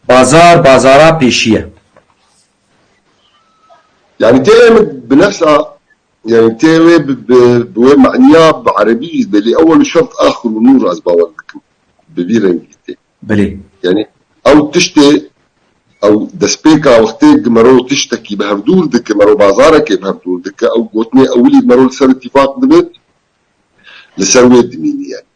Bazar bazara pêşî ye. Yanî tê em bi nefsa yanî tê wê bi bi wê manîya bi erebî jî belê ewel û şert axir û nûr ez bawer dikim bi vî rengî tê. Belê. Yanî ew tiştê ew destpêka wextê gi mero tiştekî bi hev dûr dike mero bazarekê bi hev dûr dike ew gotinê ewilî mero li ser îtîfaq dibe li ser wê dimînî yanî.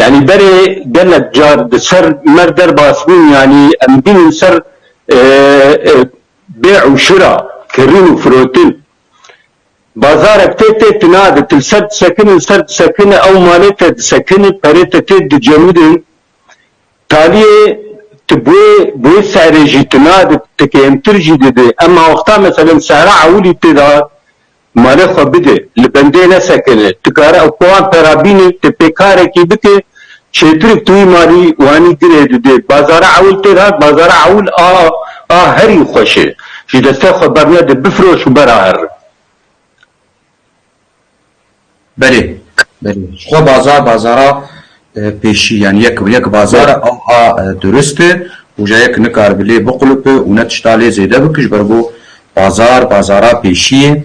Yanî berê gelek car di ser mer derbas bûn yanî em bînin ser bêh û şira, kirîn û firotin. Bazarek tê tê tina di til ser disekinin ser disekinin ew malê te disekinin perê te tê dicemidin. Taliyê ti bûê bûê serê jî tina di ti kêmtir jî didi. Em mawexta meselen sehra ewilî tê da Malê xwe bide, li bendê nesekine, tu kare ew kowan pera bîne, tu pê karekî bike, çêtirk tu wî malî wanî girê didê. Bazara ewil têr hat, bazara ewil a a herî xweş e. Ji destê xwe bernede, bifiroş û bera herin. Belê, belê. Ji xwe bazar bazara pêşî yanî yek bi yek bazar e ava durist e û ja yek nikaribe lê biqulupe û ne tişta lê zêde bike ji ber ku bazar bazara pêşî ye.